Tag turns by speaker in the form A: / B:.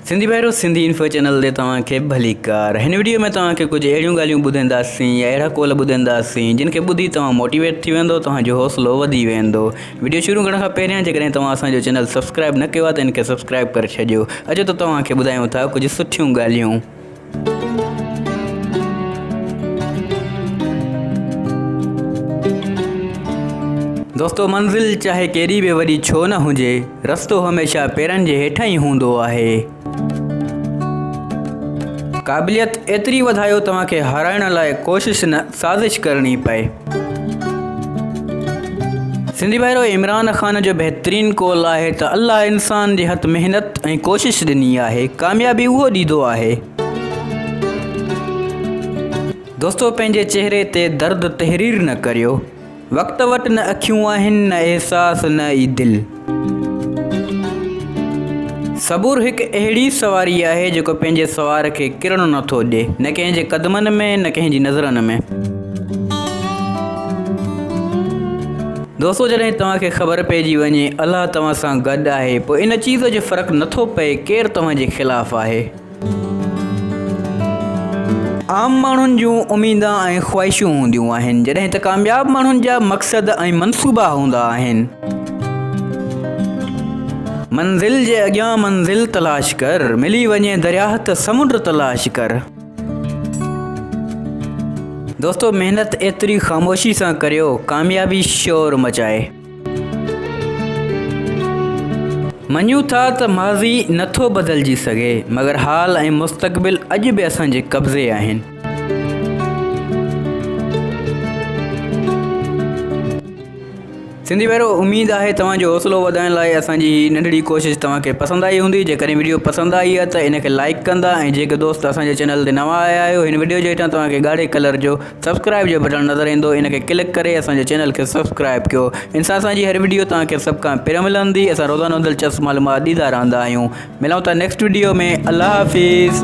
A: سنڌي ڀائرو Sindhi info channel تي توهان کي ڀليڪار هن وڊيو ۾ توهان کي ڪجهه اهڙيون ڳالهيون ٻڌنداسين يا اهڙا قول ٻڌنداسين جن کي ٻڌي توهان موٽيويٽ ٿي ويندو توهان جو حوصلو وڌي ويندو وڊيو شروع ڪرڻ کان پهريان جيڪڏهن توهان اسان جو چينل سبسڪرائب نه ڪيو آهي ته ان کي سبسڪرائب ڪري ڇڏيو اچو ته توهان کي ٻڌايون ٿا ڪجهه سٺيون ڳالهيون دوستو منزل چاهي ڪيڏي به وڏي ڇو نه هجي رستو هميشه پيرن جي هيٺان ئي هوندو آهي. قابليت ايتري وڌايو توهان کي هارائڻ لاء ڪوشش نه. سازش ڪرڻي پئي. سنڌي ڀائرو عمران خان جو بهترين قول آهي ته الله انسان جي هٿ محنت ۽ ڪوشش ڏني آهي ڪاميابي اهو ڏيدو آهي. دوستو پنهنجي چهري تي درد تحرير نه ڪريو. وقت وٽ نه اکيون آهن نه احساس نه ئي دل. صبر هڪ اهڙي سواري آهي جيڪو پنهنجي سوار کي ڪرڻ نه ٿو ڏي نه ڪنهن جي قدمن ۾ نه ڪنهن جي نظرن ۾. دوستو جڏهن توهان کي خبر پئجي وڃي الله توهان سان گڏ آهي پوء ان چيز جو فرق نه ٿو پئي ڪير توهان جي خلاف آهي. عام ماڻهن جون اميدون ۽ خواهشون هونديون آهن جڏهن ته ڪامياب ماڻهن جا مقصد ۽ منصوبا هوندا آهن. منزل جي اڳيان منزل تلاش ڪر. ملي وڃي درياهه ته سمنڊ تلاش ڪر. دوستو محنت ايتري خاموشي سان ڪريو ڪاميابي شور مچائي. مڃون ٿا ته ماضي نه ٿو بدلجي سگهي، مگر حال ۽ مستقبل اڄ به اسان جي قبضي آهن. سنڌي ڀائرو اميد آهي توهان جو حوصلو وڌائڻ لاء اسان جي هي ننڍڙي ڪوشش توهان کي پسند آئي هوندي جيڪڏهن وڊيو پسند آئي آهي ته ان کي لائڪ ڪندا ۽ جيڪي دوست اسان جي چينل تي نوان آيا آهيو هن وڊيو جي هيٺان توهان کي ڳاڙهي ڪلر جو سبسڪرائب جو بٽڻ نظر ايندو ان کي ڪلڪ ڪري اسان جي چينل کي سبسڪرائب ڪيو ان سان اسان جي هر وڊيو توهان کي سڀ کان پهريون ملندي اسان روزانو دلچسپ معلومات ڏيندا رهندا آهيون ملون ٿا نيڪسٽ وڊيو ۾ الله حافظ